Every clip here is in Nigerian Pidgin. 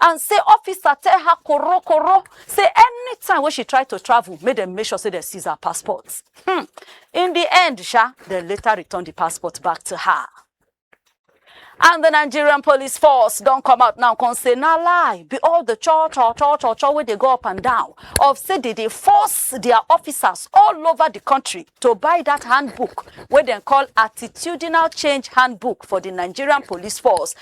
and say officer tell her koro koro say anytime wey she try to travel make dem make sure say dem seize her passport hmm. in the end sha dem later return the passport back to her and the nigerian police force don come out now come say na lie be all the cho cho cho cho cho wey dey go up and down of say they dey force their officers all over the country to buy that handbook wey dem call attitudinal change handbook for the nigerian police force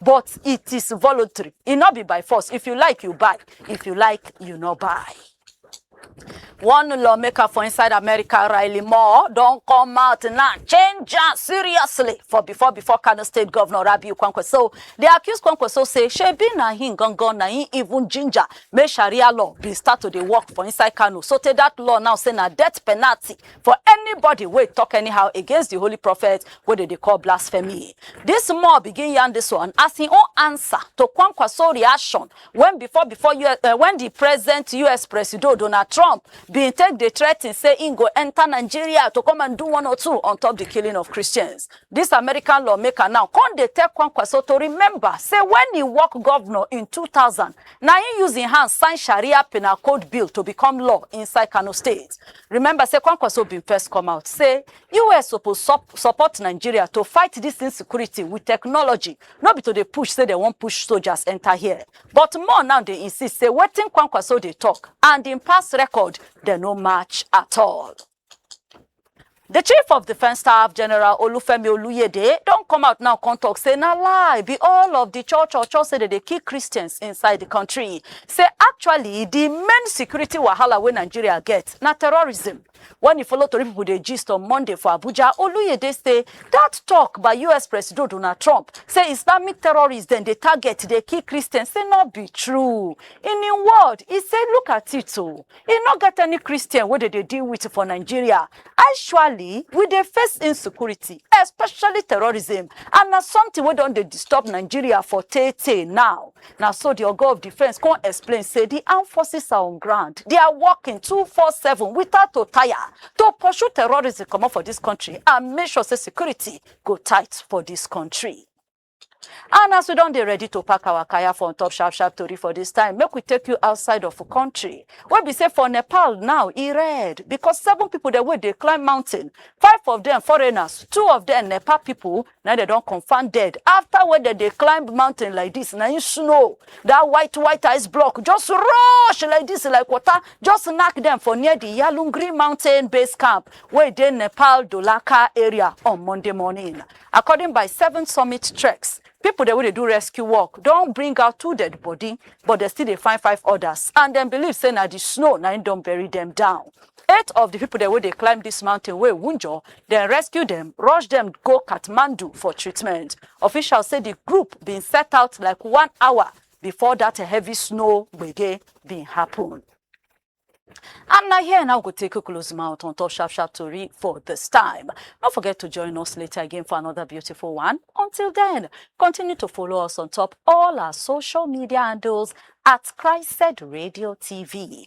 but it is voluntary. It not be by force. If you like, you buy. If you like, you not buy. One lawmaker for inside America, Riley Moore, don't come out now. Change that seriously for before before Kano State Governor Rabi Kwankwaso. They accuse Kwankwaso say she be na him gangan na him even ginger. Make Sharia law be start to dey work for inside Kano. So take that law now say na death penalty for anybody wey talk anyhow against the holy prophet wey dem dey call blasphemy. This more begin yarn this one as im own answer to Kwankwaso reaction when before before US, uh, when the present US presido Donald Trump bin take dey threaten say im go enter Nigeria to come and do one or two on top the killing of Christians. This American lawmaker now come dey tell Kwankwaso to remember say when he work governor in 2000 na im use im hand sign Sharia penal code bill to become law inside Kano state. Remember say Kwankwaso bin first come out say US suppose sup- support Nigeria to fight this insecurity with technology, no be to dey push say dem wan push soldiers enter here. But more now dey insist say wetin Kwankwaso dey talk and im past record dem no match at all. The chief of defence staff, General Olufemi Oluyede, don come out now come talk say na lie be all of the church or church say dem dey kill Christians inside the country. say actually di main security wahala wey nigeria get na terrorism. Wen e follow tori pipo dey gist on Monday for Abuja, Oluyede say dat tok by us Presido Donald Trump say Islamic terrorists dem dey target dey kill Christians say no be true. In im word, e say look at it o, e no get any Christian wey dem dey deal wit for Nigeria. Actually, we dey face insecurity, especially terrorism and na something wey don dey disturb Nigeria for tey-tey now. Na so di oga of defence come explain say di armed forces are on ground, they are working two four seven without to tire to pursue terrorism comot for dis kontri and make sure say security go tight for dis kontri. And as we don dey ready to pack our kaya for on top sharp sharp tori for dis time, make we take you outside of kontri wey be say for Nepal now e red because seven pipo dem wey dey climb mountain, five of dem foreigners, two of dem Nepal pipo na im dem don confam dead after wey dem dey climb mountain like this na im snow that white white ice block just rush like this like water just knack dem for near the yalungri mountain base camp wey dey nepal dolaka area on monday morning according by seven summit treks people dem wey dey do rescue work don bring out two dead body but dem still dey find five others and dem believe say na the snow na im don bury dem down Eight of di pipo dem wey dey climb dis mountain wey wunjure, dem rescue dem, rush dem go Kathmandu for treatment. Officials say di group bin set out like one hour before dat heavy snow gbege bin happun. And na here na we go take close mouth on top sharp sharp tori for dis time. No forget to join us later again for another beautiful one. Until then, continue to follow us on top all our social media handles at Christed Radio TV.